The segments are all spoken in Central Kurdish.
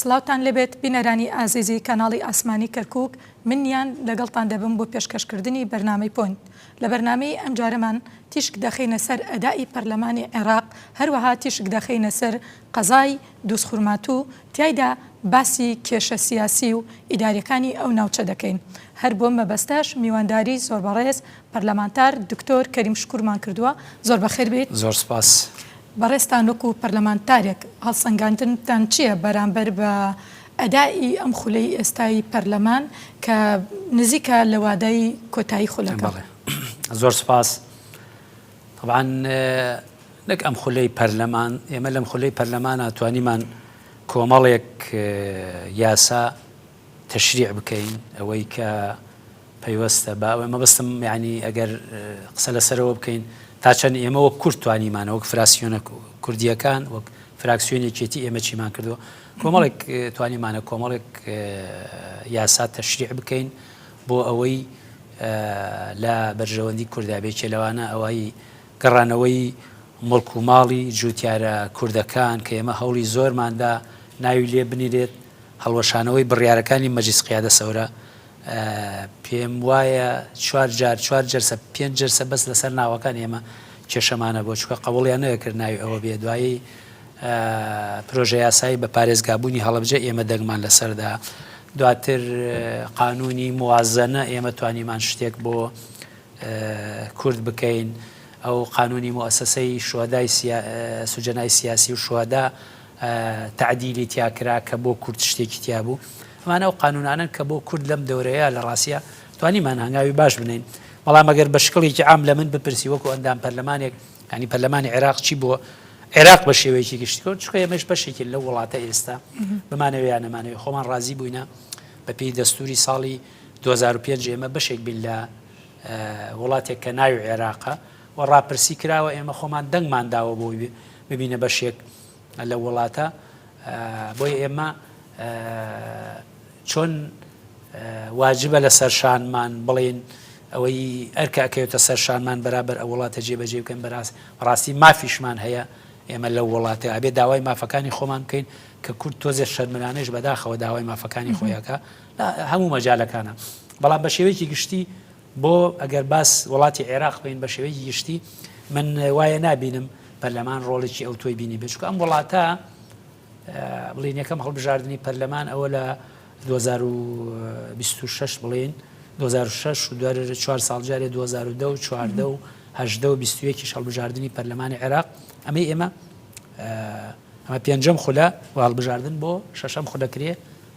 سڵاوتان لێبێت بینەرانی ئازیزی کاناڵی ئاسمانی کەرکوک منیان لەگەڵتان دەبم بۆ پێشکەش کردنی بەرنامەی پۆینت لە بەرنامەی ئەمجارەمان تیشک دەخەینە سەر ئەدائی پەرلەمانی عێراق هەروەها تیشک دەخەینە سەر قەزای دوزخورماتو تیایدا باسی کێشە سیاسی و ئیداریەکانی ئەو ناوچە دەکەین هەر بۆم مەبەستەش میوانداری زۆربەڕێز پەرلەمانتار دکتۆر کەریم شکورمان کردووە زۆر بەخێر بێیت. زۆر سپاس. بەڕێزتان وەکو پەرلەمانتارێک هەڵسەنگاندنتان چییە بەرامبەر بە ئەدائی ئەم خولەی ئێستای پەرلەمان کە نزیکە لە وادەی کۆتایی خولەکە؟ بەڵێ زۆر سپاس. تەبعەن نەک ئەم خولەی پەرلەمان ئێمە لەم خولەی پەرلەمانا توانیمان کۆمەڵێک یاسا، تەشریع بکەین ئەوەی کە پەیوەستە بە ئەوەی مەبەستم یانی ئەگەر قسە لەسەرەوە بکەین تا چەند ئێمە وەک کورد توانیمانە وەک فراسیۆنە کوردیەکان وەک فراکسیۆنی چێتی ئێمە چیمان کردووە کۆمەڵێک توانیمانە کۆمەڵێک یاسا تەشریع بکەین بۆ ئەوەی لە بەرژەوەندی کوردابێ چێ لەوانە ئەوەی گەڕانەوەی مڵک و ماڵی جوتیارە کوردەکان کە ئێمە هەوڵی زۆرماندا ناوی لێ بنیرێت هەڵوەشانەوەی بڕیارەکانی مەجلیس قیادە سەورە پێم وایە چوار جار چوار جەرسە پێنج جەرسە بەس لەسەر ناوەکان ئێمە کێشەمانە بۆ چکە قەوڵیان نەکرد ناوی ئەوە بێ دوایی پرۆژە یاسایی بە پارێزگابوونی هەڵبجە ئێمە دەنگمان لەسەردا دواتر قانونی موازەنە ئێمە توانیمان شتێک بۆ کورد بکەین ئەو قانونی موسەسەی شوهدای سوجەنای سیاسی و شوهدا تەعدیلی تیا کرا کە بۆ کورد شتێکی تیا بوو. ئەمانە ئەو قانوونانەن کە بۆ کورد لەم دەورەیە لە ڕاستیا توانیمان هەنگاوی باش بنێین. بەڵام ئەگەر بە شکڵێکی عام لە من بپرسی وەکوو ئەندام پەرلەمانێک، یانی پەرلەمانی عێراق چی بۆ عێراق بە شێوەیەکی گشتی کرد؟ چونکە ئێمەش بەشێکین لەو وڵاتە ئێستا، بمانەوێ یان نەمانەوێ. خۆمان ڕازی بووینە بە پێی دەستووری ساڵی دوو هەزار و پێنج ئێمە بەشێک بین لە وڵاتێک کە ناوی عێراقە. و ڕاپرسی کراوە ئێمە خۆمان دەنگمان داوە بۆ ببینە بەشێک لە وڵاتە بۆی ئێمە چۆن واجبە لە سەرشانمان بڵێن ئەوەی ئەرکەکەوێتە سەرشانمان بەرابەر ئە وڵاتە جێبەجێ بکەن بەراست ڕاستی مافیشمان هەیە ئێمە لە وڵاتە ئەبێ داوای مافەکانی خۆمان بکەین کە کورد تۆزێ شەرمرانێش بەداخەوە داوای مافەکانی خۆیەکە هەموو مەجالەکانە بەڵام بە شێوەیەکی گشتی بۆ ئەگەر باس وڵاتی عێراق بکەین بە شێوەیەکی گشتی من وایە نابینم پەرلەمان ڕۆڵێکی ئەو تۆی بینی بێت چکە ئەم وڵاتە بڵین یەکەم هەڵبژاردننی پەرلەمان ئەوە لە 2026 بڵین 2006 دوار چوار ساڵ جارێ 2010 و چواردە و هەدە و بیستویەکی هەڵبژاردننی پەرلەمانی عێراق ئەمەی ئێمە ئەمە پێنجەم خولە و هەڵبژاردن بۆ شەشەم خولەکرێ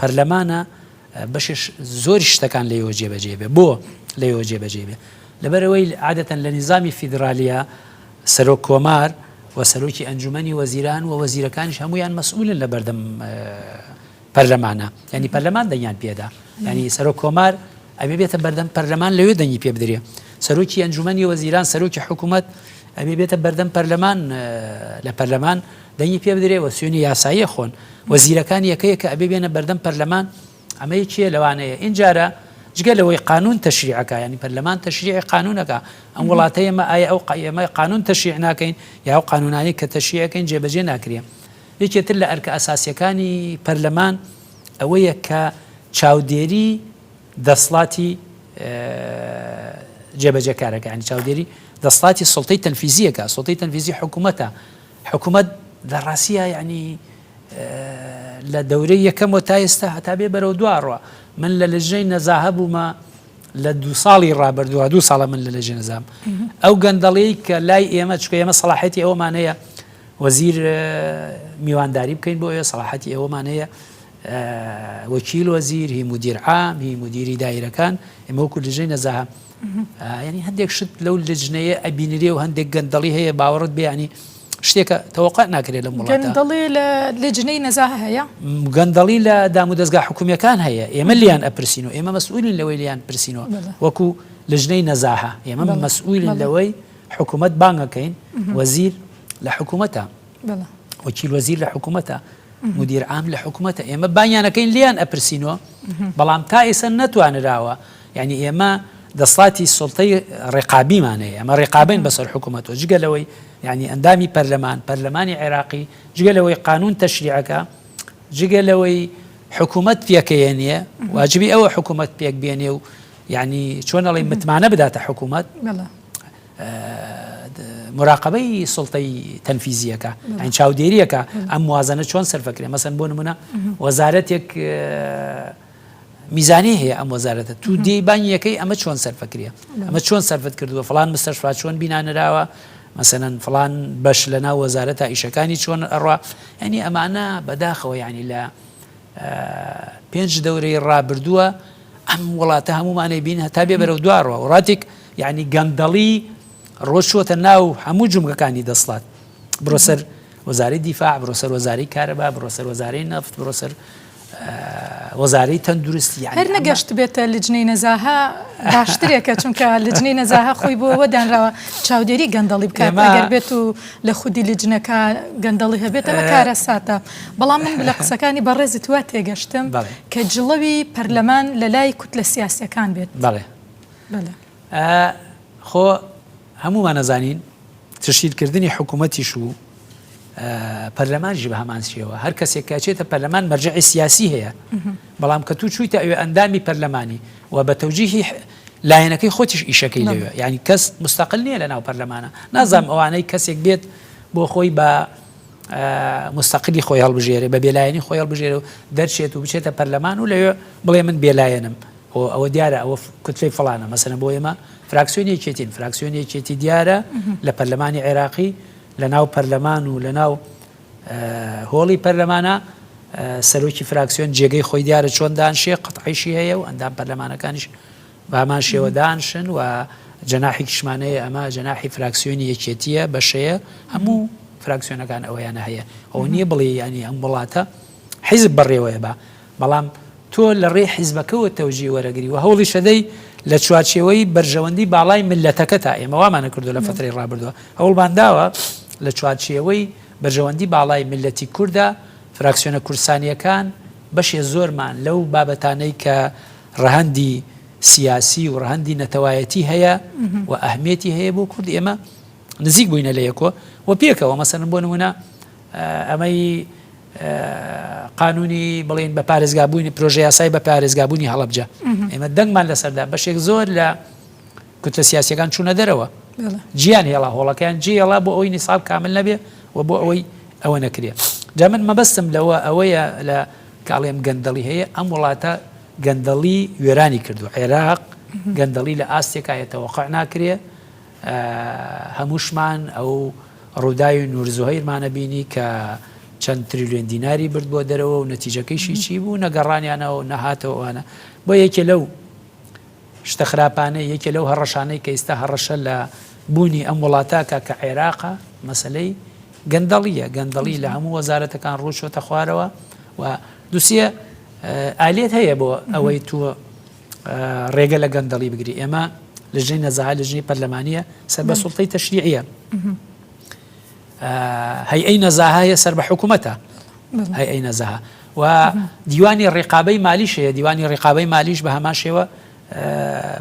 پەرلەمانە بەشێش زۆری شتەکان لەیەوە جێبەجێ بێ بۆ لەیەوە جێبەجێ بێ لەبەرەوەی عادەتەن لە نیزامی فیدراالیە سەرۆک کۆمار و سەرۆکی ئەنجومی وەزیران و وەزیرەکانیش هەمویان مەسئولن لە بەردەم پەرلەمانە ینی پەرلەمان دەنگیان پێدا ینی سەرۆک کۆمار ئەبێ بێتە بەردەم پەرلەمان لەوێ دەنگی پێ بدرێ سەرۆکی ئەنجومی وەزیران سەرۆکی حکوومەت ئەبێ بێتە بەردەم پەرلەمان لە پەرلەمان دەنگی پێ بدرێ وە سوێنی یاسایی ئەخۆن وە زیرەکان یەکە یەکە ئەبێ بێنە بەردەم پەرلەمان ئەمە یەکیە لەوانەیە ئینجارە جگە لەوەی قانون تەشریع ئەکا یانی پەرلەمان تەشریعی قانون ئەکا ئەم وڵاتەی ئێمە ئایا ئەو قای ئێمە قانون تەشریع ناکەین یا ئەو قانونانەی کە تەشریع ئەکەین جێبەجێ ناکرێ یەکێ تر لە ئەرکە ئەساسیەکانی پەرلەمان ئەوەیە کە چاودێری دەسڵاتی جێبەجێکارەکانی چاودێری دەسڵاتی سڵتەی تەنفیزیەکە سڵتەی تەنفیزی حکوومەتە حکومەت لە ڕاستیا یەعنی لە دەورەی یەکەموە تا ئێستا هەتا بێ بەرەو دو ڕوا من لە لەژنەی نەزاهە بوومە لە دو ساڵی ڕابردووە دو ساڵە من لە لەژێ نەزام ئەو گەندەڵەی کە لای ئێمە چکە ئێمە سەڵاحەتی ئەومانەیە وەزیر میوانداری بکەین بۆ ئێ سەڵاحەتی ئەومانەیە وەکیل وەزیر هی مدیر عام هی مدیری دایرەکان ئێمە وەکو لەژەی نەزاهە یانی هەندێک شت لەو لجنەیە ئەبینرێ و هەندێک گەندەڵی هەیە باوەڕت بێ ینی شتێکە تەوەقع ناکرێت لەم وڵاتە گەندەڵی لە لجنەی نەزاهە هەیە گەندەڵی لە دام و دەستگا حکومیەکان هەیە ئێمە لیان ئەپرسین و ئێمە مەسئولین لەوەی لیان پرسینەوە بەڵێ وەکو لجنەی نەزاهە ئێمە بەڵێ مەسئولین بەڵێ لەوەی حکومەت بانگەکەین وەزیر لە حکومەتە. وەکیل وەزیر لە حکومەتە، مودیر عام لە حکومەتە، ئێمە بانگیانەکەین لێیان ئەپرسینەوە، بەڵام تا ئێستا نەتوانراوە، یانی ئێمە دەسڵاتی سوڵتەی ڕێقابیمان هەیە، ئەمە ڕێقابەین بەسەر حکومەتەوە، جگە لەوەی یانی ئەندامی پەرلەمان، پەرلەمانی عێراقی، جگە لەوەی قانوون تەشریعەکا، جگە لەوەی حکومەت پێکەیەنێ، واجبی ئەوە حکومەت پێکبێنێ و یانی چۆن ئەڵێی متمانە بداتە حکومەت. موراقەبەی سوڵتەی تەنفیزییەکە، یانی چاودێرییەکە ئەم موازەنە چۆن سەرف ئەکرێ، مەسەن بۆ نموونە وەزارەتێک میزانەی هەیە ئەم وەزارەتە توو دێی بانگی یەکەی ئەمە چۆن سەرف ئەکرێ، ئەمە چۆن سەرفت کردووە، فڵان مستەشفا چۆن بینا نراوە، مەسەن فڵان بەش لەناو وەزارەتە ئیشەکانی چۆن ئەڕوا، یانی ئەمانە بەداخەوە یانی لە پێنج دەورەی ڕابردووە ئەم وڵاتە هەمومانەی بین هەتا بێ بەرەو دواڕوە وڵاتێک یعنی گەندەڵی ڕۆشوەتە ناو هەموو جومگەکانی دەسڵات بڕۆسەر وەزاری دیفاع بڕۆسەر وەزاری کارەبا بڕۆسەر وەزاری نەفت بڕۆسەر وەزارەی تەندروستی هەر نەگەشت بێتە لجنەی نەزاها باشترێکە چونکە لجنەی نەزاها خۆی بۆەوە دانراوە چاودێری گەندەڵی بکات بێت و لە خودی لجنەکە گەندەڵی هەبێتەوە کارە ساتە. بەڵام من لە قسەکانی بەڕێزت وا تێگەشتم کە جڵەوی پەرلەمان لە لای کوتلە سیاسیەکان بێت بەڵێ خۆ هەموومان نەزانین تشیلکردنی حکوومەتیش و پەرلەمانژی بە هەمان شێوە هەر کەسێک کاچێتە پەرلەمان مەرجعی سیاسی هەیە بەڵام کە تو چوویتە ئەوێ ئەندامی پەرلەمانی و بە تەوجیهی لایەنەکەی خۆتیش ئیشەکەی لەوێ ینی کەس مستەقل نییە لە ناو پەرلەمانە نازام ئەوانەی کەسێک بێت بۆ خۆی بە موستەقلی خۆی هەڵبژێرێ بە بێلایەنی خۆی هەڵبژێرێ و دەرچێت و بچێتە پەرلەمان و لەوێ بڵێ من بێلایەنم و ئەوە دیارە ئەوە کوتفی فلانە مەسەنە بۆ ئێمە فراکسیۆن یەکێتین فراکسیۆن یەکێتی دیارە لە پەرلەمانی عێراقی لە ناو پەرلەمان و لە ناو هۆڵی پەرلەمانە سەرۆکی فراکسیۆن جێگەی خۆی دیارە چۆن دانشێ قەتعیشی هەیە و ئەندام پەرلەمانەکانیش بە هەمان شێوە دانشن و جەناحێکیشمان هەیە، ئەمە جەناحی فراکسیۆنی یەکێتییە، بەشەیە، هەموو فراکسیۆنەکان ئەوەیانە هەیە، ئەوە نییە بڵێی یانی ئەم وڵاتە حیزب بەڕێوەیە بە، بەڵام تۆ لە ڕێی حیزبەکەوە تەوجیە وەرەگری و هەوڵیش ئەدەی لە چوارچێوەی بەرژەوەندی باڵای میللەتەکەتا، ئێمە وامانە کردووە لە فەترەی ڕابردووە هەوڵمان داوە لە چوارچێوەی بەرژەوەندی باڵای میللەتی کوردا، فراکسیۆنە کوردستانییەکان بەشێ زۆرمان لەو بابەتانەی کە، ڕەهەندی سیاسی و ڕەهەندی نەتەوایەتی هەیە و ئەهمیەتی هەیە بۆ کورد ئێمە نزیک بووینە لە یەکۆ و پێکەوە مەسەن بۆ نمونە ئەمەی قانونی بڵین بە پارێزگابوونی پرۆژه یاسای بە پارێزگابوونی هەڵبجە ئێمە دەنگمان لەسەردا بەشێک زۆر لە کوتە سیاسەکان چوونە دەرەوە جیان هێڵا هۆڵەکەیان جێڵا بۆ ئەوی نیساب کامل نەبێ و بۆ ئەوەی ئەوە نەکرێت جا من مەبەستم لەوە ئەوەیە لە کە ئەڵێم گەندەڵی هەیە ئەم وڵاتە گەندەڵی وێرانی کردو عێراق گەندەڵی لە ئاستێکا هەیە تەوەقع ناکرێ هەمووشمان ئەو ڕووداوی نورزوهیرمانە بینی کە چەند تریلیۆن دیناری برد بۆ دەرەوە و نەتیجەکەیشی چی بوو نەگەڕانیانەوە نەهاتەوەوانە بۆ یەکێ لەو شتە خراپانەی یەکێ لەو هەڕەشانەی کە ئیستا هەڕەشە لە بوونی ئەم وڵاتاکە کە عێراقە مەسلەی گەندەڵیە گەندەڵی لە هەموو وەزارەتەکان ڕووچۆتە خوارەوە و دوسیە ئالیت هەیە بۆ ئەوەی تۆ ڕێگە لە گەندەڵی بگری ئێمە لە ژێ نەزەها لە ژنی پەرلەمانە سەر بە سوڵتەی تەشریعە هەی ئەی نەزاهەیە سەر بە حکوومەتە هەی ئەی نەزەها و دیوانی ڕێقابەی مالیشەیە دیوانی ڕێقابەی مالیش بە هەمان شێوە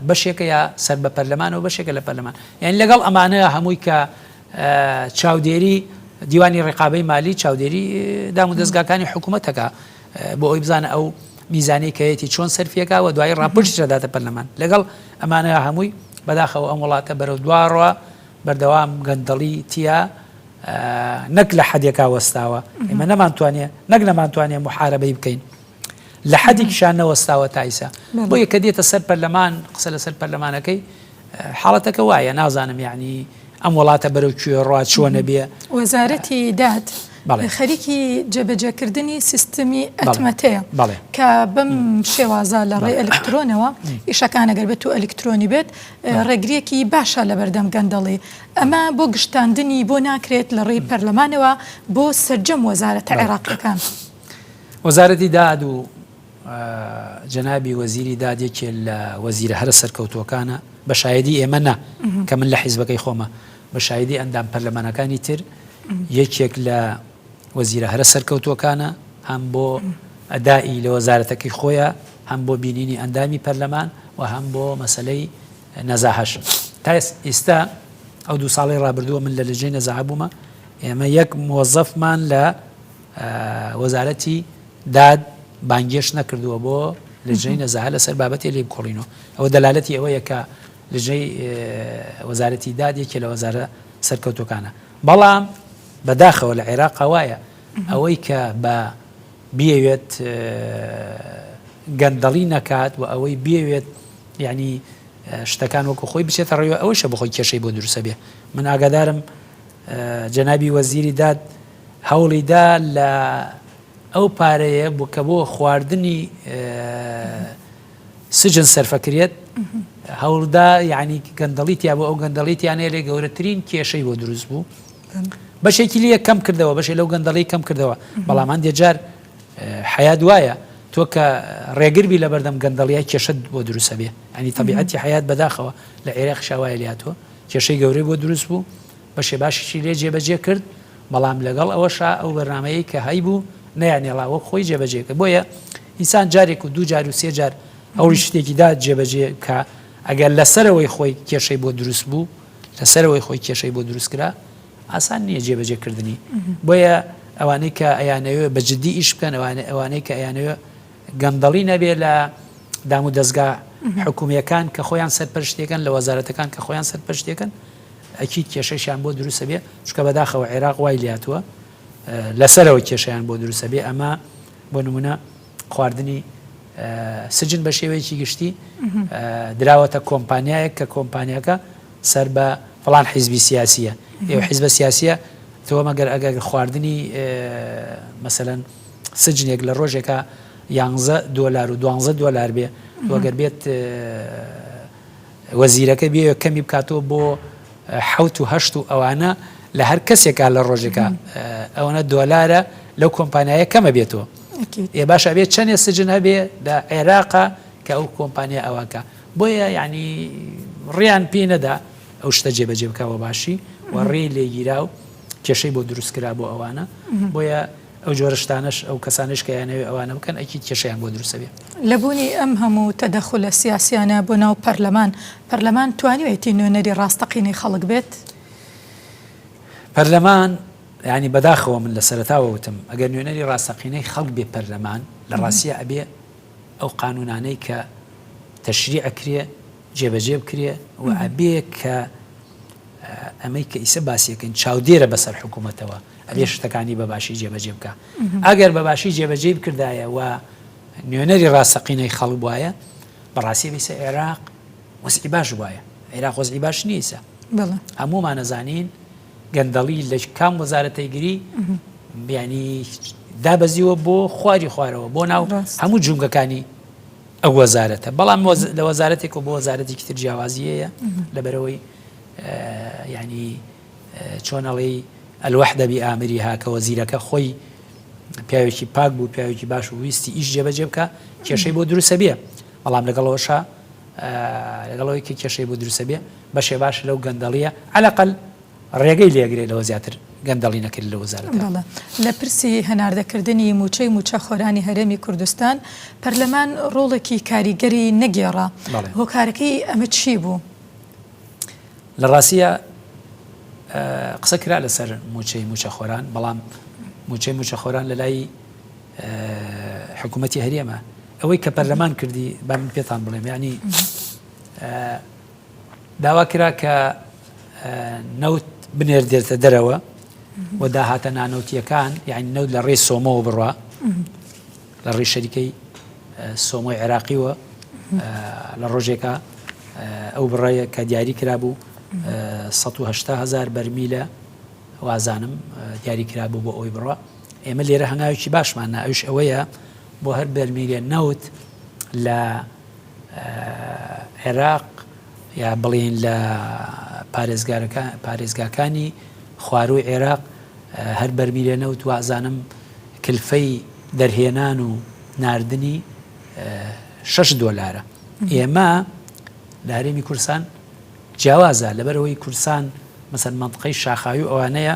بەشێکە یا سەر بە پەرلەمانەو بەشێکە لە پەرلەمان یانی لەگەڵ ئەمانە هەمووی کە چاودێری دیوانی ڕقابەی مالی چاودێری دام و دەستگاکانی حکوومەتەکە بۆ ئەوی بزانە ئەو میزانەی کەیەتی چۆن سەرفیەکە و دوای ڕاپشت دەداتە پەرلەمان لەگەڵ ئەمانە هەمووی بەداخەوە ئەم وڵاتە بەرەو دواڕە بەردەوام گەندەڵی تیا نەک لە حەدێکا وەستاوە ئێمە نەمانتوانێ نەک نەمانتوانێ محاربەی بکەین لە حەدیکیشا نەوەستاوە تایسە بۆیە کە دێتە سەر پەرلەمان قسە لەسەر پەرلەمانەکەی حاڵەتەکە وایە نازانم یعنی ئەم وڵاتە بەرەو کوێ ڕوا چووە نەبێ وەزارەتی داد خەریکی جێبەجێکردنی سیستمی ئەتمەتەیە کە بەم شێوازە لە ڕێ ئەلکترۆنەوە ئیشەکانەگەر بێت و ئەلکترۆنی بێت ڕێگرێکی باشە لە بەردەم گەندەڵی ئەمە بۆ گشتاندنی بۆ ناکرێت لە ڕێی پەرلەمانەوە بۆ سرجەم وەزارەتە عێراقیەکان. وەزارەتی داد و جەنابی وەزیری داد یەکێ لە وەزیرە هەرە سەرکەوتووەکانە بە شایدی ئێمە نا کە من لە حیزبەکەی خۆمە بە شایدی ئەندام پەرلەمانەکانی تر یەکێک لە وەزیرە هەرە سەرکەوتووەکانە هەم بۆ ئەدائی لە وەزارەتەکەی خۆیە هەم بۆ بینینی ئەندامی پەرلەمان و هەم بۆ مەسلەی نەزاهش تا ئیستا ئەو دوو ساڵی رابردووە من لە لەجێ نەزاع بوومە ئێمە یەک مۆزەفمان لە وەزارەتی داد بانگێشت نەکردووە بۆ لجنەی نەزاهە لەسەر بابەتێ لێکۆڵینەوە، ئەوە دەلالەتی ئەوەیە کە لجنەی وەزارەتی داد یەکێ لە وەزارە سەرکەوتوەکانە، بەڵام بە داخەوە لە عێراقا وایە ئەوەی کە بە بیەوێت گەندەڵی نەکات و ئەوەی بێوێت یعنی شتەکان وەکو خۆی بچێتە ڕێوە ئەوەشە بخۆی کێشەی بۆ دروسە بێ من ئاگادارم جەنابی وەزیری داد هەوڵیدا لە ئەو پارەیە بوو کە بۆ خواردنی سجن سەرفەکرێت هەوڵدا یعنی گەندەڵی تیا بۆ ئەو گەندەڵی تیانەیە لێ گەورەترین کێشەی بۆ دروست بوو بەشێکی لە کەم کردەوە بەشێ لەو گەندەڵی کەم کردەوە بەڵام هەندێک جار حیات وایە تۆ کە ڕێگربی لە بەردەم گەندەڵیای کێشت بۆ دروستە بێ ئەنی تەبیعەتی حیات بەداخەوە لە عێراق شاوایە لاتۆ کێشەی گەورەی بۆ دروست بوو بەشێ باشیشی لێ جێبەجێ کرد، بەڵام لەگەڵ ئەوەشا ئەو بەرنامەیەی کە هەیبوو نەیانهێڵا وەک خۆی جێبەجێ کرد، بۆیە ئینسان جارێک و دوو جار و سێ جار ئەوڕی شتێکی دا جێبەجێ کا ئەگەر لە سەرەوەی خۆی کێشەی بۆ دروست بوو، لە سەرەوەی خۆی کێشەی بۆ دروست کرا ئاسان نییە جێبەجێ کردنی، بۆیە ئەوانەی کە ئەیانەوێ بە جدی ئیش بکەن ئەوانە ئەوانەی کە ئەیانەوێ گەندەڵی نەبێ لە دامودەزگا حکوومییەکان کە خۆیان سەرپەرشتیەکەن لە وەزارەتەکان کە خۆیان سەرپەرشتیەکەن، ئەکید کێشەیشیان بۆ دروست ئەبێ، چونکە بەداخەوە عێراق وای لێهاتووە لە سەرەوە کێشەیان بۆ دروست ئەبێ، ئەمە بۆ نموونە خواردنی سجن بە شێوەیەکی گشتی دراوەتە کۆمپانیایەک کە کۆمپانیاکە سەر بە فڵان حیزبی سیاسیە ئێوە حیزبە سیاسیە تۆ مەگەر ئەگەر خواردنی مەسەەن سجنێک لە ڕۆژێکە یانزە دۆلار و دوانزە دۆلار بێ وەگەر بێت وەزیرەکە بیەوێت کەمی بکاتەوە بۆ حەوت و هەشت و ئەوانە لە هەر کەسێکا لە ڕۆژێکا ئەوەنە دۆلارە لەو کۆمپانیایە کەمە بێتەوە ئێ باشە بێت چەندێ سجن هەبێ لە عێراقا کە ئەو کۆمپانیا ئەوانکە بۆیە یعنی ڕیان پێی نەدا ئەو شتە جێبەجێ بکەوە باشی و ڕێی لێگیرا و کێشەی بۆ دروستکرا بۆ ئەوانە بۆیە ئەو جۆرە شتانەش ئەو کەسانەش کە ئەیانەوێ ئەوانە بکەن ئەکید کێشەیان بۆ دروست ئەبێ. لە بوونی ئەم هەموو تەدەخولە سیاسیانە بۆ ناو پەرلەمان، پەرلەمان توانیوێتی نوێنەری ڕاستەقینەی خەڵک بێت؟ پەرلەمان، یانی بەداخەوە من لە سەرەتاوە وتم ئەگەر نوێنەری ڕاستەقینەی خەڵک بێ پەرلەمان لە ڕاستیا ئەبێ ئەو قانوونانەی کە تەشریع ئەکرێ جێبەجێ بکرێ و ئەبێ کە ئەمەی کە ئیسە باسیەکەین چاودێرە بەسەر حکوومەتەوە. ئەبێ شتەکانی بە باشی جێبەجێ بکا. ئەگەر بە باشی جێبەجێی بکردایە و نوێنەری ڕاستەقینەی خەڵک بوایە، بەڕاستی ئیسە عێراق وەزعی باش بوایە. عێراق وەزعی باش نییە ئیسە. هەموومان ئەزانین گەندەڵی لە کام وەزارەتەی گری بیانی دابەزیوە بۆ خواری خوارەوە بۆ ناو هەموو جومگەکانی ئەو وەزارەتە بەڵام لە وەزارەتێک و بۆ وەزارەتێکی تر جیاوازیەیە لەبەرەوەی ینی چۆن ئەڵێی الوحدە بی ئامریها کە وەزیرەکە خۆی پیاوێکی پاک بوو پیاوێکی باش و ویستی ئیش جێبەجێ بکە کێشەی بۆ دروسە بێ بەڵام لەگەڵەوەشە لەگەڵەوەی کە کێشەی بۆ دروسە بێ بەشێ باش لەو گەندەڵیە عەلەقل ڕێگەی لێگرێت لەوە زیاتر گەندەڵی نەکرد لە وەزارەت لە پرسی هەناردەکردنی موچەی موچەخۆرانی هەرێمی کوردستان پەرلەمان ڕۆڵێکی کاریگەری نەگێڕا هۆکارەکەی ئەمە چی بوو؟ لە ڕاستیە قسە کرا لەسەر موچەی موچەخۆران بەڵام موچەی موچەخۆران لە لای حکوومەتتی هەرێمە ئەوەی کە پەرلەمان کردی با من پێتان بڵێم ینی داوا کرا کە نەوت بنێر دێتە دەرەوە و داهاتە نانەوتیەکان یعنی نەوت لە ڕێی سۆمەوە بڕە لە ڕووی شەریکەی سۆمۆی عێراقیوە لە ڕۆژێکا ئەو بڕەیە کە دیاری کرابوو 1970 هزار بەرمیلە وازانم دیاری کرابوو بۆ ئەوی بڕە ئێمە لێرە هەنگاوێکی باشمان ناویش ئەوەیە بۆ هەر بەرمیلێ نەوت لە عێراق یا بڵین لە پارێزگارەکە پارێزگاکانی خواروی عێراق هەر بەرمیلێ نەوت وازانم کلفەی دەرهێنان و ناردنی شەش دۆلارە ئێمە لە هەرێمی کورسان جیاوازە لەبەرەوەی کورسان مەسەر منطقەی شاخاوی ئەوانەیە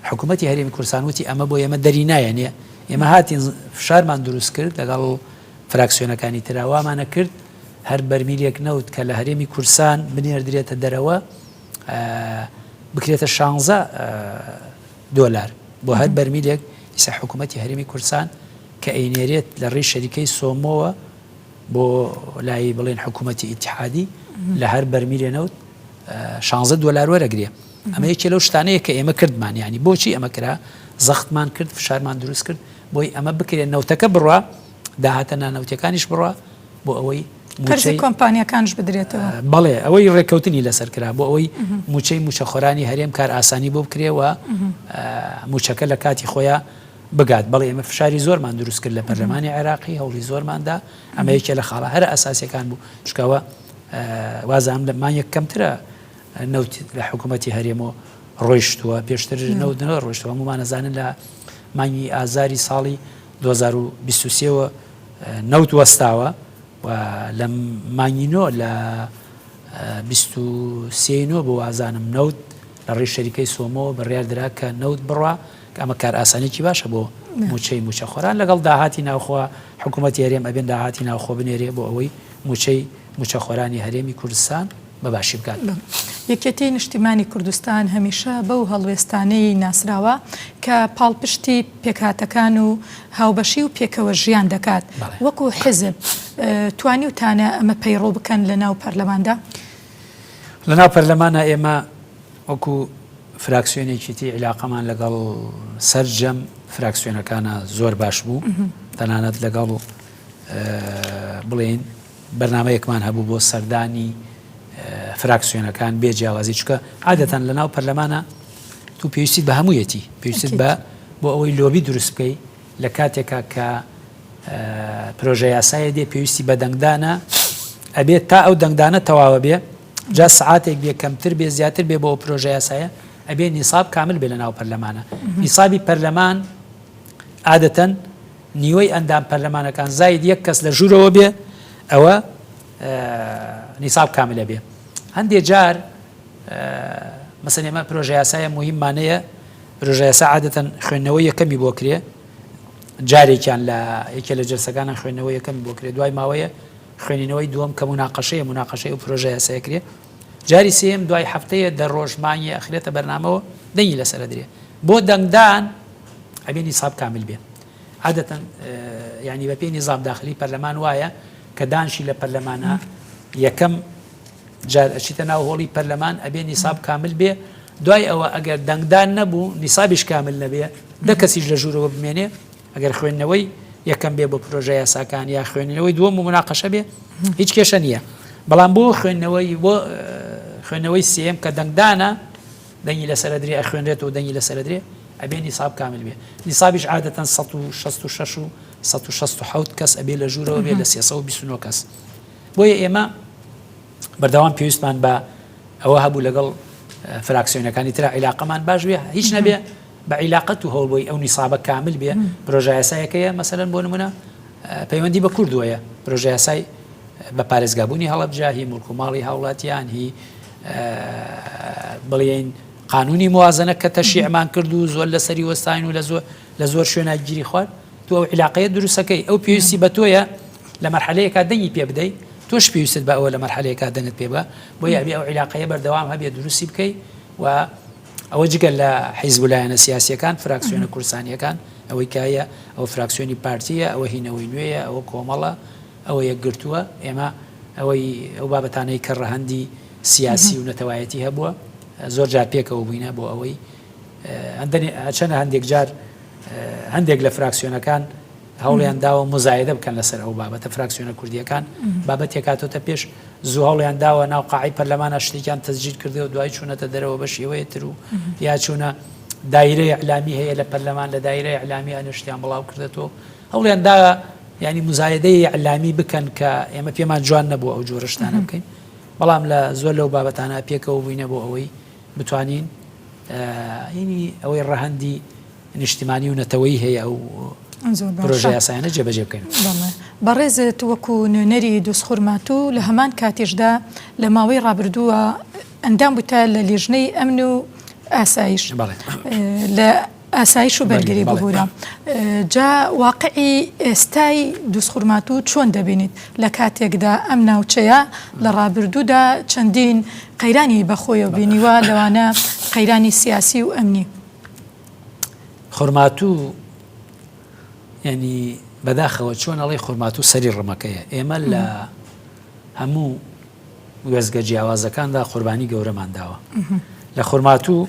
حکوومەتتی هەرێمی کورسان وتی ئەمە بۆ ئێمە دەری نایەنێ ئێمە هاتین فشارمان دروست کرد لەگەڵ و فراکسیۆنەکانی تراوامانە کرد هەر بەرمیلێک نەوت کە لە هەرێمی کورسان بنێردرێتە دەرەوە بکرێتە شانزە دۆلار بۆ هەر بەرمیلێک ئیسە حکوومەتتی هەرمی کوردستان کە ئەینێرێت لە ڕێی شەریکەی سۆمۆوە بۆ لای بڵێن حکوومەتتی ئیتحادی لە هەر بەرمیلێ نەوت شانزە دۆلار وەرەگرێ ئەمە یەکێ لەو شتانەیە کە ئێمە کردمان ینی بۆچی ئەمە کرا زەختمان کرد فشارمان دروست کرد بۆی ئەمە بکرێت نەوتەکە بڕە داهاتە نانەوتەکانیش بڕە بۆ ئەوەی قەرزی کۆمپانیەکانش بدرێتەوە بەڵێ ئەوەی ڕێککەوتنی لەسەر کرا بۆ ئەوەی موچەی موچەخۆرانی هەرێم کار ئاسانی بۆ بکرێەوە موچەکە لە کاتی خۆیان بگات بەڵێ ئمە فشاری زۆرمان دروست کرد لە پەرلەمانی عێراقی هەوڵی زۆرماندا ئەمە یەکێ لە خاڵە هەر ئاساسەکان بوو شکاوە وازام لە مانیەک کەمترە نەوت لە حکوومەتتی هەرێمەوە ڕۆیشتووە پێشتر نەوت نەوە ڕۆشتوە هەمومانەزانن لە مانگی ئازاری ساڵی دوو هەزار و بیست و سێ وە نەوت وەستاوە و لە مانگی نۆ لە بیست و سێ ی نۆ بۆ وازانم نەوت لە ڕێی شەریکەی سۆمۆوە بڕیار درا کە نەوت بڕا کە ئەمە کارئاسانێکی باشە بۆ موچەی موچەخۆران لەگەڵ داهاتی ناوخۆوە حکوومەتی هەرێم ئەبێن داهاتی ناوخۆ بنێرێ بۆ ئەوەی موچەی موچەخۆرانی هەرێمی کوردستان بەباشی بکات. یەکێتیی نیشتیمانی کوردستان هەمیشە بەو هەڵوێستانەی ناسراوە کە پاڵپشتی پێکهاتەکان و هاوبەشی و پێکەوە ژیان دەکات. وەکو حیزب توانیوتانە ئەمە پەیڕەو بکەن لەناو پەرلەماندا؟ لەناو پەرلەمانا ئێمە وەکو فراکسیۆنێکی تی عیلاقەمان لەگەڵ سەرجەم فراکسیۆنەکانە زۆر باش بوو. تەنانەت لەگەڵ بڵێین بەرنامەیەکمان هەبوو بۆ سەردانی فراکسیۆنەکان بێ جیاوازی چکە عادەتەن لە ناو پەرلەمانە تو پێویستی بە هەموویەتی پێویست بە بۆ ئەوەی لۆبی دروست بکەی لە کاتێکا کە پرۆژە یاسایە دێ پێویستی بە دەنگدانە ئەبێت تا ئەو دەنگدانە تەواوە بێ جا سعاتێک بێ کەمتر بێ زیاتر بێ بۆ ئەو پرۆژە یاسایە ئەبێ نیساب کامل بێ لە ناو پەرلەمانە نیسابی پەرلەمان عادەتەن نیوەی ئەندام پەرلەمانەکان زاید یەک کەس لە ژورەوە بێ ئەوە نیساب کاملە بێ هەندێ جار مەسەن ئێمە پرۆژەیاسایە مهم مانەیە پرۆژەیاسا عادەتەن خوێندنەوە یەکەمی بۆ کرێ جارێکیان لە یەکێ لە جلسەکانە خوێندنەوە یەکەمی بۆ کرێ دوای ماوەیە خوێنینەوەی دووەم کە مناقەشەیە مناقەشەی و پرۆژەیاسایە کرێ جاری سێم دوای هەفتەیە دە ڕۆژمانی ئەخرێتە بەرنامەوە دەنگی لەسەر درێ بۆ دەنگدان ئەبێ نیساب کامل بێ عادەتەن یعنی بە پێی نیزام داخلی پەرلەمان وایە کە دانشی لە پەرلەمانە یەکەم جار ئەچیتە ناو هۆڵی پەرلەمان ئەبێ نیساب کامل بێ دوای ئەوە ئەگەر دەنگدان نەبوو نیسابیش کامل نەبێ دە کەسیش لە ژوورەوە بمێنێ ئەگەر خوێندنەوەی یەکەم بێ بۆ پرۆژە یاساکان یا خوێندنەوەی دووەم و مناقەشە بێ هیچ کێشە نییە بەڵام بۆ خوێندنەوەی بۆ خوێندنەوەی سێم کە دەنگدانە دەنگی لە سەرەدرێ ئەخوێنرێتەوە و دەنگی لە سەرەدرێ ئەبێ نیساب کامل بێ. نیسابیش عادەتەن سەد و شەست و شەش و سەد و شەست و حەوت کەس ئەبێ لە ژوورەوە بێ لە سێ سەد و بیست و نۆ کەس. بۆیە ئێمە بەردەوام پێویستمان بە ئەوە هەبوو لەگەڵ فراکسیۆنەکانی ترا عیلاقەمان باش بێ، هیچ نەبێ بە عیلاقەت و هەوڵبۆی ئەو نیسابە کامل بێ، پرۆژایاسایەکەیە مەسەلەن بۆ نمونە پەیوەندی بە کوردوەیە، پرۆژەیاسای بە پارێزگابوونی هەڵەبجە، هی موڵک و ماڵی هاوڵاتیان، هی بڵێین قانونی موازنە کە تەشیعمان کرد و زۆر لەسەری وەستاین و لە زۆر لە زۆر شوێنە گیری خوارد تۆ ئەو علاقەیە دروستەکەی ئەو پێویستی بە تۆیە لە مەرحەلەیەکە دەنگی پێ بدەیت تۆش پێویست بە ئەوە لە مەرحەلەیەکە دەنگت پێ بە بۆ یابی ئەو علاقەیە بەردەوام هەبێ دروستی بکەیت و ئەوە جگەل لە حیزب لایەنە سیاسەکان فراکسیۆنە کورسانیەکان ئەوەی کایە ئەو فراکسیۆنی پارتیە ئەوە هینەوەی نوێیە ئەوە کۆمەڵە ەوە یەکگرتووە، ئێمە ئەوەی ئەو بابەتانەی کە ڕەهەندی سیاسی و نەتەوایەتی هەبووە زۆر جار پێکەوە بووینە بۆ ئەوەی چەنە هەندێک جار هەندێک لە فراکسیۆنەکان هەوڵیان داوە مزایدە بکەن لەسەر ئەو بابەتە فراکسیۆنە کوردیەکان بابەت تێکاتۆتە پێش زوو هەوڵیان داوە ناو قاعی پەرلەمانە شتێکیان تەزجیر کردەوە دوای چوونەتە دەرەوە بە شێوەیە تر و یا چوونە دایرەی علامی هەیە لە پەرلەمان لە دایرەی علامی ئەنشتیان بڵاو کردێتەوە هەوڵیان دا یانی موزایەدەی ئیعلامی بکەن کە ئێمە پێمان جوان نەبوو ئەو جۆرە شتانە بکەین، بەڵام لە زۆر لەو بابەتانە پێکەوە بووینە بۆ ئەوەی بتوانین یانی ئەوەی ڕەهەندی نیشتیمانی و نەتەوەی هەیە ئەو پرۆژە یاسایانە جێبەجێ بکەین. بەڕێزت وەکو نوێنەری دووسخورمات و لە هەمان کاتیشدا لە ماوەی ڕابردووە ئەندام بوویتە لە لیژنەی ئەمن و ئاسایش. بەڵێ. لە ئاسایش و بەرگری ببورە. جا واقعی ئێستای دوزخورماتوو چۆن دەبینیت؟ لە کاتێکدا ئەم ناوچەیە لە ڕابردوودا چەندین قەیرانی بە خۆیەوە بینیوە لەوانە قەیرانی سیاسی و ئەمنی. خورماتوو یعنی بەداخەوە چۆن ئەڵێی خورماتوو سەری ڕمەکەیە ئێمە لە هەموو وێزگە جیاوازەکاندا قوربانی گەورەمان داوە لە خورماتوو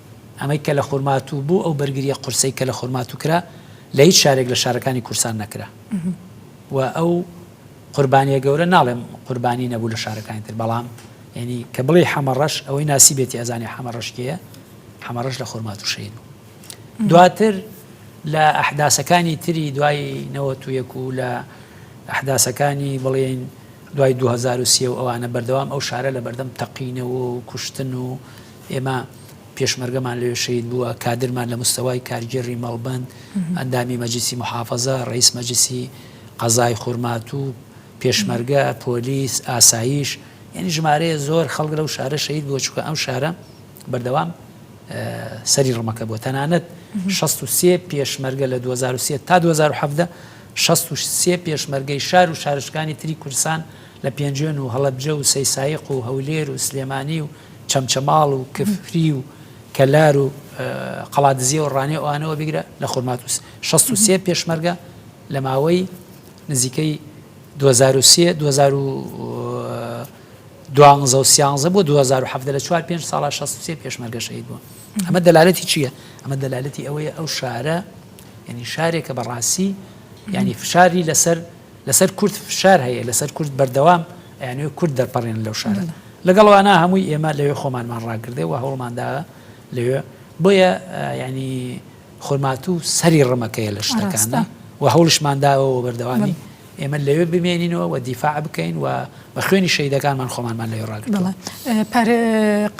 ئەمەی کە لە خورماتوو بوو، ئەو بەرگرییە قورسەی کە لە خورماتوو کرا، لە هیچ شارێک لە شارەکانی کورسان نەکرا و ئەو قوربانییە گەورە، ناڵێم قوربانی نەبوو لە شارەکانی تر، بەڵام یەنی کە بڵێی حەمەڕەش، ئەوەی ناسیبێتی ئەزانێ حەمەڕەش کێیە، حەمەڕەش لە خورماتوو شەهید بوو. دواتر لە ئەحداسەکانی تری دوای نەوەت و یەک و لە ئەحداسەکانی بڵێین دوای دوو هەزار و سێ و ئەوانە بەردەوام ئەو شارە لە بەردەم تەقینەوە و کوشتن و ئێمە پێشمەرگەمان لەوێ شەهید بووە، کادرمان لە مستەوای کارگێڕی مەڵبەند، ئەندامی مەجلیسی موحافەزە، ڕەئیس مەجلیسی قەزای خورماتوو، پێشمەرگە، پۆلیس، ئاسایش، یانی ژمارەیە زۆر خەڵک لەو شارە شەهید بووە، چونکە ئەم شارە بەردەوام سەری ڕمەکە بووە. تەنانەت شەست و سێ پێشمەرگە لە دوو هەزار و سێ تا دوو هەزار و حەڤدە شەست و سێ پێشمەرگەی شار و شارۆچکانی تری کوردستان، لە پێنجوێن و هەڵەبجە و سەیسایق و هەولێر و سلێمانی و چەمچەماڵ و کفری و کەلار و قەڵادزیە و ڕانێ ئەوانەوە بگرە لە خورمات و 16 پێشمەرگە لە ماوەی نزیکەی 2023 دوانزە و سیانزە بۆ 2017 لە چوار پێنج ساڵا 16 پێشمەرگە شەید بوون ئەمە دەلالەتی چییە؟ ئەمە دەلالەتی ئەوەیە ئەو شارە ینی شارێکە بەڕاستی ینی فشاری لەسەر لەسەر کورد فشار هەیە لەسەر کورد بەردەوام ئەیانەوێت کورد دەرپەڕێنن لەو شارە لەگەڵ ئەوانە هەمووی ئێمە لەوێ خۆمانمان ڕاگردێ و هەوڵمان دا لەوێ بۆیە یعنی خورماتوو سەری ڕمەکەیە لە شتەکاندا و هەوڵشمان داوە و بەردەوامی ئێمە لەوێ بمێنینەوە و دیفاع بکەین و بە خوێنی شەهیدەکانمان خۆمانمان لەوێ ڕاگرتووە.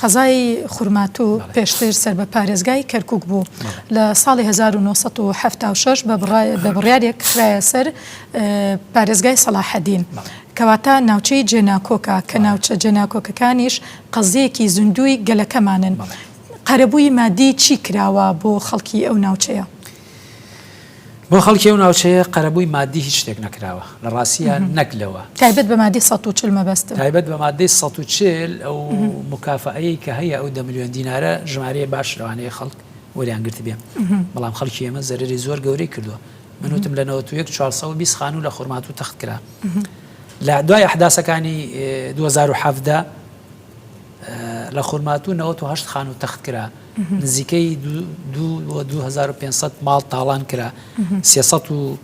قەزای خورماتوو پێشتر سەر بە پارێزگای کەرکوک بوو لە ساڵی 1976 بە بڕیارێک خراە سەر پارێزگای سەلاحەدین. کەواتە ناوچەی جێناکۆکە کە ناوچە جێناکۆکەکانیش قەزیەکی زیندووی گەلەکەمانن. قەرەبووی مادی چی کراوە بۆ خەڵکی ئەو ناوچەیە؟ بۆ خەڵکی ئەو ناوچەیە قەرەبووی ماددی هیچ شتێک نەکراوە، لە ڕاستییا نەک لەوە. تایبەت بە ماددەی سەد و چل مەبەستە. تایبەت بە ماددەی سەد و چل ئەو موکافەئەیەی کە هەیە ئەو دە ملیۆن دینارە ژمارەیە باش لەوانەیە خەڵک وەریان گرتبێ بەڵام خەڵکی ئێمە زەرەری زۆر گەورەی کردووە من وتم لە نەوەت و یەک چوار سەد و بیست خانوو لە خورماتوو تەخت کرا لە دوای ئەحداسەکانی دوو هەزار و حەڤدە لە خورماتوو نەوەت و هەشت خان و تەخت کرا نزیکەی 2500 ماڵ تاڵان کرا سێسە و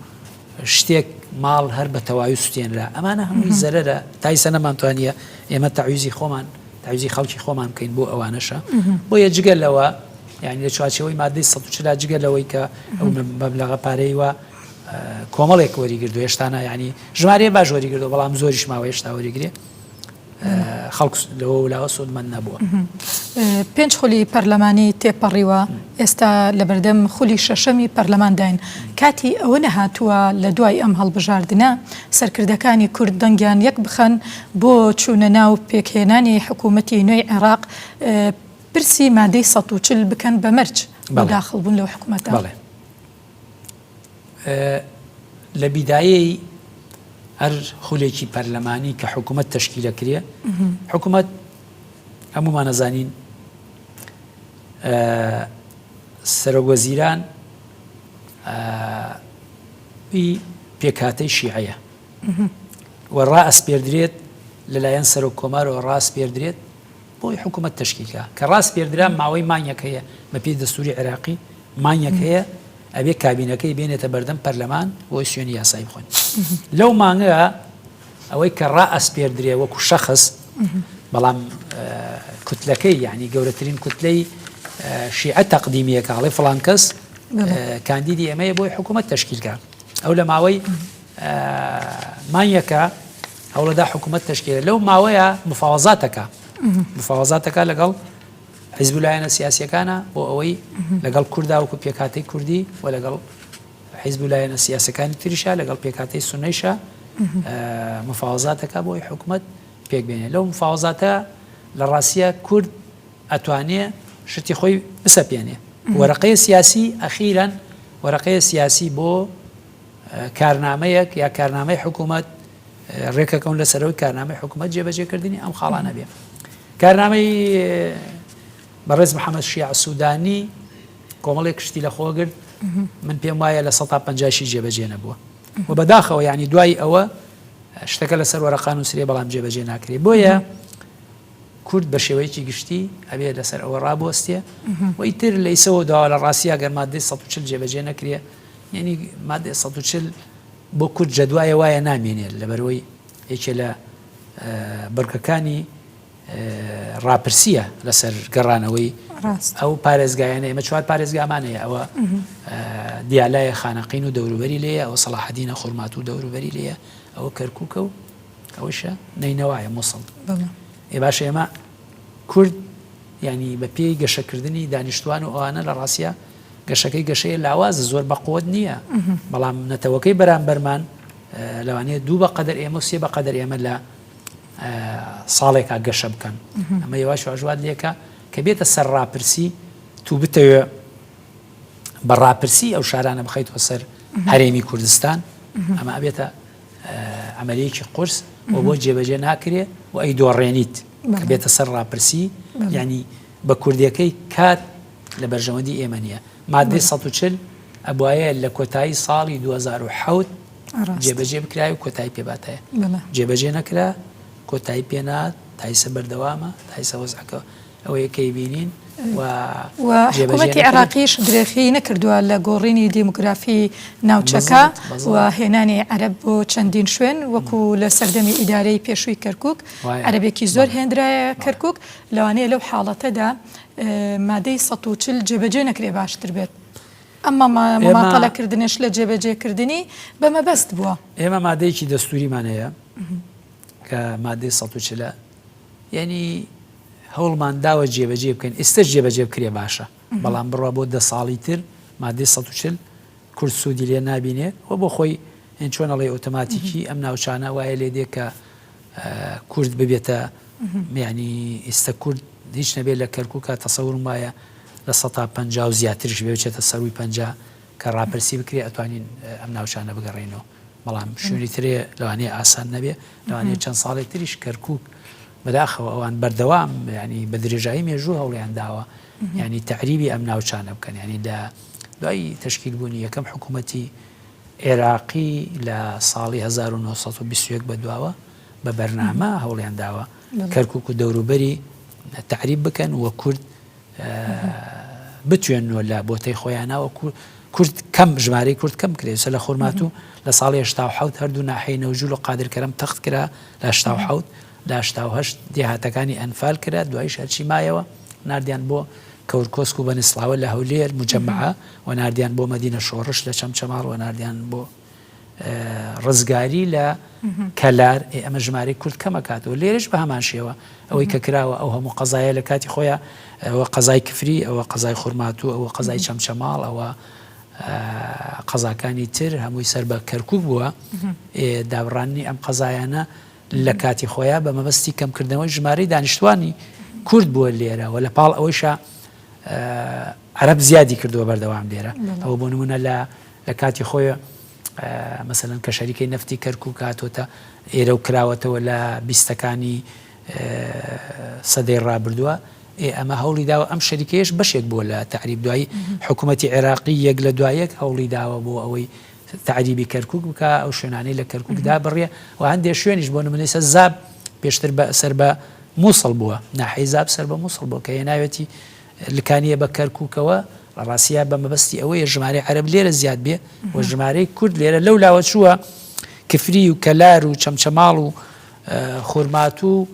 شتێک ماڵ هەر بە تەواوی سوتێنرا ئەمانە هەمووی زەرەرە تایسە نەمانتوانە ئێمە تاویزی خۆمان تاویزی خەڵکی خۆمان بکەین بۆ ئەوانەشە بۆ یە جگە لەوە یعنی لە چوارچەوەی مادەی سە چلا جگە لەوەی کە ئەو مەبلغە پارەی وە کۆمەڵێک وەریگردو هێشتانە ینی ژمارە باش وەریگردو بەڵام زۆریش ماوە هێشتا وەریگرێ خەڵک لەوە و لاوە سوودمەند نەبووە. پێنج خولی پەرلەمانی تێپەڕیوە، ئێستا لەبەردەم خولی شەشەمی پەرلەمانداین، کاتی ئەوە نەهاتووە لە دوای ئەم هەڵبژاردنە سەرکردەکانی کورد دەنگیان یەک بخەن بۆ چوونە ناو پێکهێنانی حکوومەتی نوێی عێراق پرسی مادەی سەد و چل بکەن بە مەرج بۆ داخڵبوون لەو حکوومەتە؟ لە بیدایەی هەر خولێکی پەرلەمانی کە حکوومەت تەشکی دەکرێ حکوومەت هەموومانەزانین سەرۆگوەزیران پێکاتەی شیعەیە و ڕائەسپێردرێت لەلایەن سەرۆک کۆمارەوە ڕاست پێدرێت بۆی حکومەت تەشکیل کا کە ڕاسپێردرا ماوەی مانگێک هەیە بە پێی دەستوری عێراقی مانگێک هەیە ئەبێ کابینەکەی بێنێتە بەردەم پەرلەمان بۆی شوێنی یاسایی بخۆن لەو مانگە ئەوەی کە ڕائەسپێردرێ وەکو شەخص بەڵام کوتلەکەی یعنی گەورەترین کوتلەی شیعە تەقدیمیەکە هەڵێ فلان کەس کاندیدی ئەمەیە بۆی حکوومەت تشکیلکە ئەو لە ماوەی مانگێکە هەوڵەدا حکوومەت تەشکێلێ لەو ماوەیە مفاوەزاتەکە مفاوەزاتەکە لەگەڵ حیزب و لایەنە سیاسەکانە بۆ ئەوەی لەگەڵ کورداوکو پێکاتی کوردی و لەگەڵ حیزب و لایەنە سیاسەکانی تریشا لەگەڵ پێکاتی سنەیشە مفاوەزاتەکە بۆی حکوومەت پێکبێنێ لەو مفاوەزاتە لە ڕاستە کورد ئەتوانێ شتی خۆی بسەپێنێ وەرەقەیە سیاسی ئەخیران وەرەقەیە سیاسی بۆ کارنامەیەک یا کارنامەی حکوومەت ڕێکەکەون لە سەرەوەی کارنامەی حکوومەت جێبەجێکردنی ئەم خاڵانە بێ کارنامەی بەڕێز محەممەد شیع سوودانی کۆمەڵێک شتی لە خۆگرت من پێم وایە لە 150شی جێبەجێ نەبووە و بەداخەوە ینی دوای ئەوە شتەکە لەسەر وەرەقان و سرێ بەڵام جێبەجێ ناکرێت بۆیە کورد بە شێوەیەکی گشتی ئەبێ لەسەر ئەوە ڕابۆستێ وەیتر لەیسەوە داوا لە ڕاستیا گەرمادەی 140 جێبەجێ نەکرێ یەعنی مادەی سەد و چل بۆ کورد جەدوایە وایە نامێنێت لەبەرەوەی یەکێ لە بڕگەکانی ڕاپرسیە لەسەر گەڕانەوەی ئەو پارێزگایانە ئمە چوار پارێزگامانەیە ئەوە دیالایە خانەقین و دەوروبەری لێە ئەو سەڵاحدینە خورمات و دەوروبەری لێە ئەوە کەرکووکە و ئەوشە نینەوەە مووسڵ ئێ باشە ئێمە کورد یانی بە پێی گەشە کردنی دانیشتوان و ئەوانە لە ڕاستیا گەشەکەی گەشەیە لاوازە زۆر بە قوت نییە بەڵام نەتەوەکەی بەرامبەرمان لەوانەیە دوو بە قەدەر ئێمە سێ بە قەدەر ئێمە لە ساڵێکا گەشە بکەن ئەمە یوواش واژوات لێکە کە بێتە سەر ڕاپرسی تو بتەوێ بە ڕاپرسی ئەو شارانە بخیتەوە سەر هەرێمی کوردستان ئەمە بێتە عەمەلیەکی قورس و بۆ جێبەجێ ناکرێ و ئەی دۆڕێنیت بێتە سەر ڕاپرسی ینی بە کوردەکەی کات لە بەرژەوەندی ئێمە نیە مادەی 140 ئەبواە لە کۆتایی ساڵی 2010 جێبەجێ بکرای و کۆتایی پێباتەیە جێبەجێ نەکرا کۆتایی پێنات تایسە بەردەوامە تایسە وەزعەکە ئەوەیە کەی بینین و حکوومەتی عێراقیش درێخی نەکردووە لە گۆڕینی دیموگرافی ناوچەکە و هێنانی عەرب بۆ چەندین شوێن وەکو لە سەردەمی ئیدارەی پێشووی کەرکک عەربێکی زۆر هێنرایە کەرکک لەوانەیە لەو حاڵەتەدا مادەی ١40 جێبەجێ نەکرێ باشتر بێت. ئەمە ماماتەلەکردنش لە جێبەجێکردنی بە مەبەست بووە ئێمە مادەیەکی دەستوریمان هەیە کە مادەی ١40 یانی هەوڵمان داوە جێبەجێی بکەین ئیستەش جێبەجێ بکرێ باشە بەڵام بڕوا بۆ دە ساڵی تر مادەی سەد و چل کورد سوودی لێ نابینێ و بۆ خۆی هێن چۆن ئەڵێ ئۆتۆماتیکی ئەم ناوچانە وایە لێ دێ کە کورد ببێتە میانی ئیستە کورد هیچ نەبێت لە کەرکووکە تەسەورم وایە لە سە پ و زیاترش بێچێتە سەروی پنج کە ڕاپرسی بکرێ ئەتوانین ئەم ناوچانە بگەڕێنەوە بەڵام شوێنی ترێ لەوانەیە ئاسان نەبێ لەوانەیە چەند ساڵێک تریش کەرکک بەداخەوە ئەوان بەردەوام ینی بە درێژایی مێژوو هەوڵیان داوە ینی تەعریبی ئەم ناوچانە بکەن ینی لە دوای تشکیل بوونی یەکەم حکوومەتی عێراقی لە ساڵی 1920 بە دواوە بە بەرنامە هەوڵیان داوە کەرکک و دەوروبەری تەعریب بکەن وە کورد بتوێننەوە لە بۆتەی خۆیانەوە کورد کەم ژمارەی کورد کەم کرێت سە لە خورمات و لە ساڵی هشتا حوت هەردوو ناحی نەوجول و قادرکەرم تەخت کرا لە هشتا حوت لاشتاهشت دێهاتەکانی ئەنفال کرا دوایش هەرچی مایەوە نردیان بۆ کەورکۆسک و بەنسڵاوە لە هەولێر مجممەعە و نردیان بۆ مەدینە شۆڕش لە چەمچەماڵ و نردیان بۆ ڕزگاری لە کەلار ئێ ئەمە ژمارەی کورد کەمەکاتەوە لێرش بە هەمان شێوە ئەوەی کە کراوە ئەو هەموو قەزایە لە کاتی خۆیان ئەوە قەزای کفری ئەوە قەزای خورماتوو ئەوە قەزای چەمچەماڵ ئەوە قەزاکانی تر هەمووی سەر بە کەرکک بووە دابڕاننی ئەم قەزایانە لە کاتی خۆیان بە مەبەستی کەمکردنەوەی ژمارەی دانیشتوانی کورد بووە لێرەوە لە پاڵ ئەوەیشە عرب زیادی کردووە بەردەوام لێرە ئەوە بۆ نمونە لە لە کاتی خۆێ مەسەلەن کە شەریکەی نەفتی کەرکوک هاتۆتە ئێرە و کراوەتەوە لە بیستەکانی سەدەی ڕابردووە ئێ ئەمە هەوڵی داوە ئەم شەریکەیەش بەشێک بووە لە تعریب دوایی حکوومەتی عێراقی یەک لە دوایەک هەوڵی داوە بۆ ئەوەی تعریبی کەرکک بکە ئەو شوێنانەی لە کەرککدا بڕیە و هەندێک شوێنیش بۆ نمونەیسە زاب پێشتر بە سەر بە مووسڵ بووە ناحی زاب سەر بە مووسڵ بۆ کە هێناوێتی لکانیە بە کەرکوکەوە ڕاسیە بە مەبەستی ئەوەیە ژمارەی عەرەب لێرە زیاد بێ و ژمارەی کورد لێرە لەو لاوە چووە کفری و کەلار و چەمچەماڵ و خورماتوو و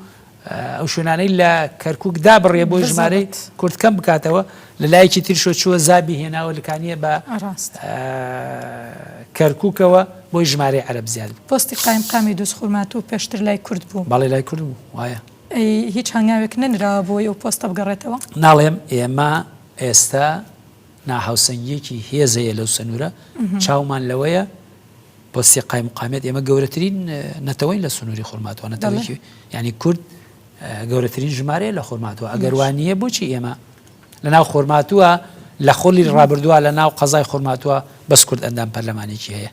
ئەو شوێنانەی لە کەرکک دا بڕێ بۆی ژمارەی کورد کەم بکاتەوە لە لایەکی ترشۆ چووە زابی هێناوە لکانە بە کەرککەوە بۆی ژمارەی عەرب زیاد پستی قایم قامی دوست خورمات و پێشتر لای کورد بوو بەڵی لای کورد بوو وایە ئەی هیچ هەنگاوێک نەنراوە بۆی ئەو پۆستە بگەڕێتەوە؟ ناڵێم، ئێمە ئێستا ناهاوسەنگییەکی هێز هەیە لەو سنوورە، چاومان لەوەیە پۆستی قایمقامیەت، ئێمە گەورەترین نەتەوەین لە سنووری خورماتوە، نەتەوەیەکی یانی کورد گەورەترین ژمارەیە لە خورماتوە، ئەگەر وا نییە بۆچی ئێمە لەناو خورماتوە لە خولی ڕابردووە لەناو قەزای خورماتوە بەس کورد ئەندام پەرلەمانێکی هەیە،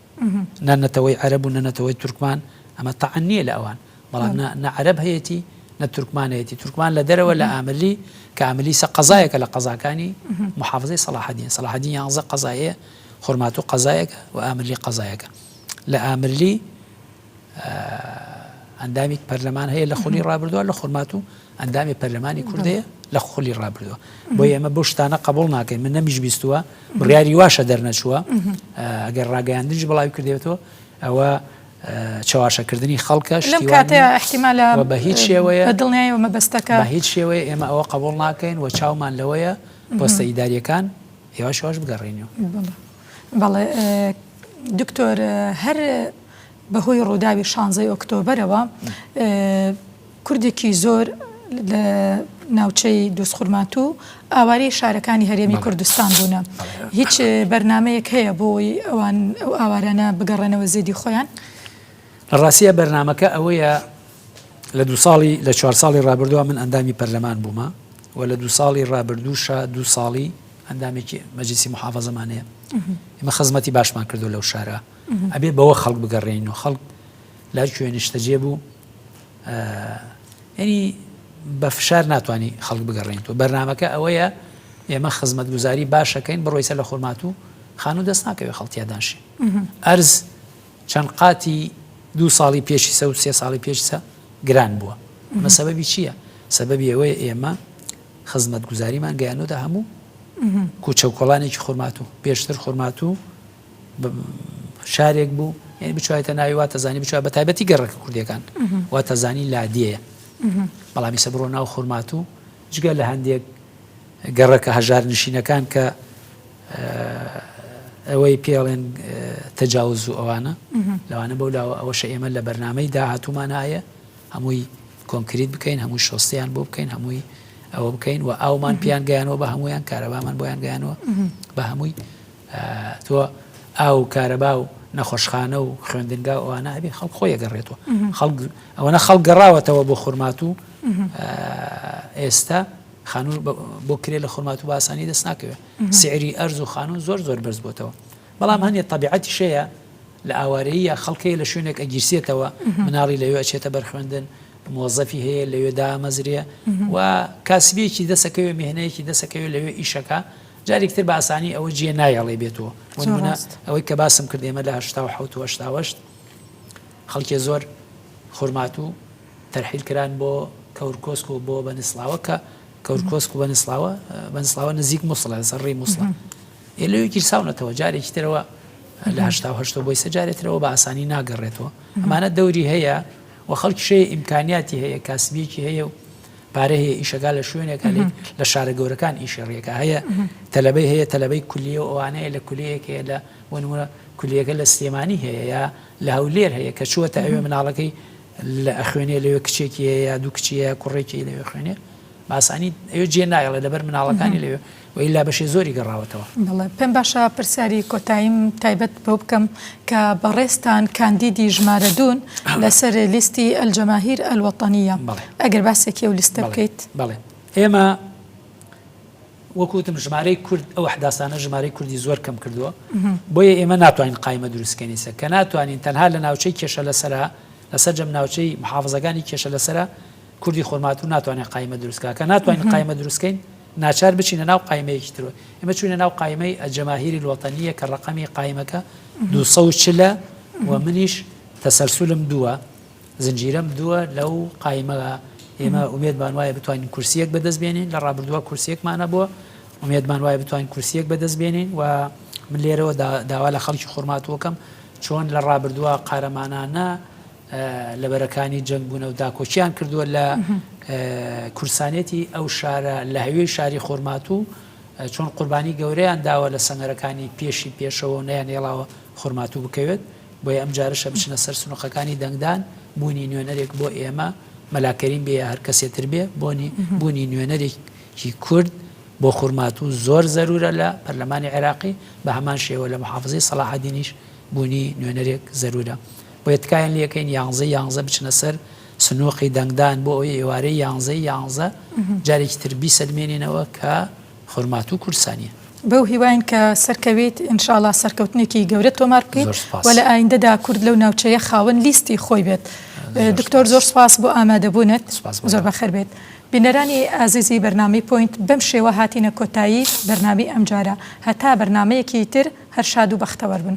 نە نەتەوەی عەرەب و نە نەتەوەی تورکمان، ئەمە تەعن نییە لە ئەوان. بەڵام نە نە عەرەب هەیەتی نە تورکمان هەیەتی تورکمان لە دەرەوە لە ئاملی کە ئاملی سە قەزایەکە لە قەزاکانی محافزەی سەڵاحدین سەڵاحدین یانزە قەزایە خورمات و قەزایەکە و ئاملی قەزایەکە لە ئاملی ئەندامی پەرلەمان هەیە لە خولی ڕابردووە لە خورمات و ئەندامی پەرلەمانی کوردەیە لە خولی ڕابردووە بۆ ئێمە بۆ شتانە قبول ناکەین من نەمیش بیستووە بڕیاری واشە دەرنەچووە ئەگەر ڕاگەیاندنیش بڵاوی کردێتەوە ئەوە چەواشەکردنی خەڵکە لەم کاتەیە ئەحتیمالە و بە هیچ شێوەیە بە دڵنیایەوە مەبەستەکە بە هیچ شێوەیە ئێمە ئەوە قبوڵ ناکەین و چاومان لەوەیە پۆستە ئیداریەکان یواش یواش بگەڕێنەوە بەڵێ بەڵێ دکتۆر هەر بەهۆی ڕووداوی شانزەی ئۆکتۆبرەوە کوردێکی زۆر لە ناوچەی دوزخورماتوو ئاوارەی شارەکانی هەرێمی کوردستان بوونە هیچ بەرنمەیەک هەیە بۆی ئەوان ئەو ئاوارانە بگەڕێنەوە زێدی خۆیان لە ڕاستە بەرنمەکە ئەوەیە لە دو ساڵی لە چوار ساڵی ڕابردووە من ئەندامی پەرلەمان بوومە و لە دو ساڵی ڕابردووشە دو ساڵی ئەندامێکی مەجلسی محافظەمانەیە ئمە خزمەتی باشمان کردو لەو شارە ئەبێ بەوە خەڵک بگەڕێنەوە خەڵک لە کوێ نیشتەجێ بوو یعنی بە فشار ناتوانانی خەڵک بگەڕێنیتەوە بەرنمەکە ئەوەیە ئێمە خزمەتگوزاری باشەکەین بڕۆیسە لە خورمات و خانوو دەست ناکەوێت خەڵتیادانشی ئەرز چەند قاتی دو ساڵی پێشی سە و سێ ساڵی پێشسە گران بووە مە سەبەبی چییە سەبەبی ئەوەیە ئێمە خزمەتگوزاریمان گەیانۆدا هەموو کوچە و کۆڵانێکی خورماتوو پێشتر خورماتوو شارێک بوو یعنی بچوایتە ناوی واتەزانی بچوە بە تایبەتی گەڕەکە کوردیەکان واتەزانی لادیەیە بەڵامی سە بڕۆ ناو خورمات و جگە لە هەندێک گەڕەکە هەژار نشینەکان کە ئەوەی پێڵێن تەجاوز و ئەوانە لەوانە بەو لاوە ئەوەشە ئێمە لە بەرنمەی داهاتوومانایە هەمووی کۆنکریت بکەین هەمووی شۆستیان بۆ بکەین هەمووی ئەوە بکەین و ئاومان پیان گەیانەوە بە هەمویان کارەبامان بۆیان گەیانەوە بە هەمووی تۆ ئاو و کارەبا و نەخۆشخانە و خوێندنگا و ئەوانە هەبێ خەڵک خۆی ئەگەڕێتەوە خەڵک ئەوەنە خەڵک گەڕاوەتەوە بۆ خورماتوو ئێستا خانوو بۆ کرێ لە خورمات و باسانی دەست ناکەوێت سعری ئەرز و خانوو زۆر زۆر بەرز بۆتەوە بەڵام هەنێ طبیعەتی شەیە لە ئاوارەیە خەڵکەیە لە شوێنێک ئەگیرسێتەوە مناڵی لەوێ ئەچێتە بەرخوێندن مۆزەفی هەیە لەوێ دامەزرێ و کاسبیەکی دەسەکەوێ مهێنەیەکی دەسەکەوێ لەوێ ئیشەکە جاریک تر بە ئاسانی ئەوە جیێ نایەڵێ بێتۆ بۆ زۆر نمونە ڕاست. ئەوەی کە باسم کرد ئێمە لە هەشتا و حەوت و هەشتا و هەشت خەڵکێ زۆر خورماتوو تەرحیل کران بۆ کەورکۆسک و بۆ بەنسڵاوە کە کەورکۆسک و بەنسڵاوە بەنسڵاوە نزیک موسڵە لەسەر ڕی موسڵە ئێ لەوێ گیرساونەتەوە جارێکی ترەوە لە هەشتا و هەشتەوە بۆیسە جارێ ترەوە بە ئاسانی ناگەڕێتەوە ئەمانە دەوری هەیە و خەڵکیشەیە ئیمکانیاتی هەیە کاسبیەکی هەیە و پارە هەیە ئیشەکە لە شوێنێک هەێت لە شارە گەورەکان ئیشی ڕێەکە هەیە تەلبەی هەیە تەلبەی کولیە و ئەوانەیە لە کولیەک هەیە لە بۆنمونە کولیەکە لە سلێمانی هەیە یا لە هەولێر هەیە کە چووە تا ئەوێ مناڵەکەی لە ئەخوێنێ لەوێ کچێکی یا دوو کچیە کوڕێکی لەوێ خوێنێ باسانی ئەوێ جێ نایڵێ لەبەر مناڵەکانی لەوێ و ئیلا بەشێ زۆری گەڕاوەتەوە. بەڵێ پێم باشە پرسیاری کۆتاییم تایبەت بەو بکەم کە بەڕێزتان کاندیدی ژمارە دوون لەسەر لیستی ئەلجەماهیر ئەلوەتەنییە، ئەگەر باسێکی ئەو لیستە بکەیت. بەڵێ ئێمە وەک وتم ژمارەی کورد ئەو حداسانە ژمارەی کوردی زۆر کەم کردووە، بۆیە ئێمە ناتوانین قایمە دروست بکەین ئیسە کە ناتوانین تەنها لە ناوچەی کێشە لەسەرە لە سەرجەم ناوچەی محافزەکانی کێشە لەسەرە، کوردی خورماتوو ناتوانێت قایمە دروست بکات، کە ناتوانین قایمە دروست بکەین، ناچار بچینە ناو قایمەیەکی ترەوە، ئێمە چووینە ناو قایمەی الجماهیر الوطنیە کە ڕەقەمی قایمەکە دوو سەد و چل ە و منیش تەسەلسولم دووە، زنجیرەم دووە لەو قایمەدا، ئێمە ئومێدمان وایە بتوانین کورسییەک بەدەست بێنین، لە ڕابردووە کورسییەکمان هەبووە، ئومێدمان وایە بتوانین کورسییەک بەدەست بێنین و من لێرەوە داوا لە خەڵکی خورماتوو ئەکەم چۆن لە ڕابردووە قارەمانانە، لەبەرەکانی جەنگ بوونەو داکۆکیان کردووە لە کورسانێتی ئەو شارە لە هەوێی شاری خورماتوو چۆن قوربانی گەورەیان داوە لە سەنگەرەکانی پێشی پێشەوە نەیان هێڵاوە خورماتوو بکەوێت بۆیە ئەم جارشە بچنە سەر سنوقەکانی دەنگدان بوونی نوێنەرێک بۆ ئێمە مەلاکەریم بێ هەر کەسێ تر بێ بۆنی بوونی نوێنەرێکی کورد بۆ خورماتوو زۆر زەرورە لە پەرلەمانی عێراقی بە هەمان شێوە لە محافزی سەلاحدینیش بوونی نوێنەرێک زەرورە بۆیە تکایان لێکەین یانزەی یانزە بچنە سەر سنوقی دەنگدان بۆ ئەوەی ئێوارەی یانزەی یانزە جارێکی تر بیسەلمێنینەوە کە خورماتوو کوردسانیە. بەو هیواین کە سەرکەویت، ان شاء اللە سەرکەوتنێکی گەورە تۆمار بکەیت زۆر سوپاس. و لە ئایندەدا کورد لەو ناوچەیە خاوەن لیستی خۆی بێت. زۆر دکتۆر سوپاس. زۆر سوپاس بۆ ئامادەبوونت. سوپاس بۆ زۆر تۆ. بەخێربێیت. بینەرانی ئازیزی بەرنامەی پۆینت بەم شێوە هاتینە کۆتایی بەرنامەی ئەمجارە هەتا بەرنامەیەکی تر هەر شاد و بەختەوەر بن.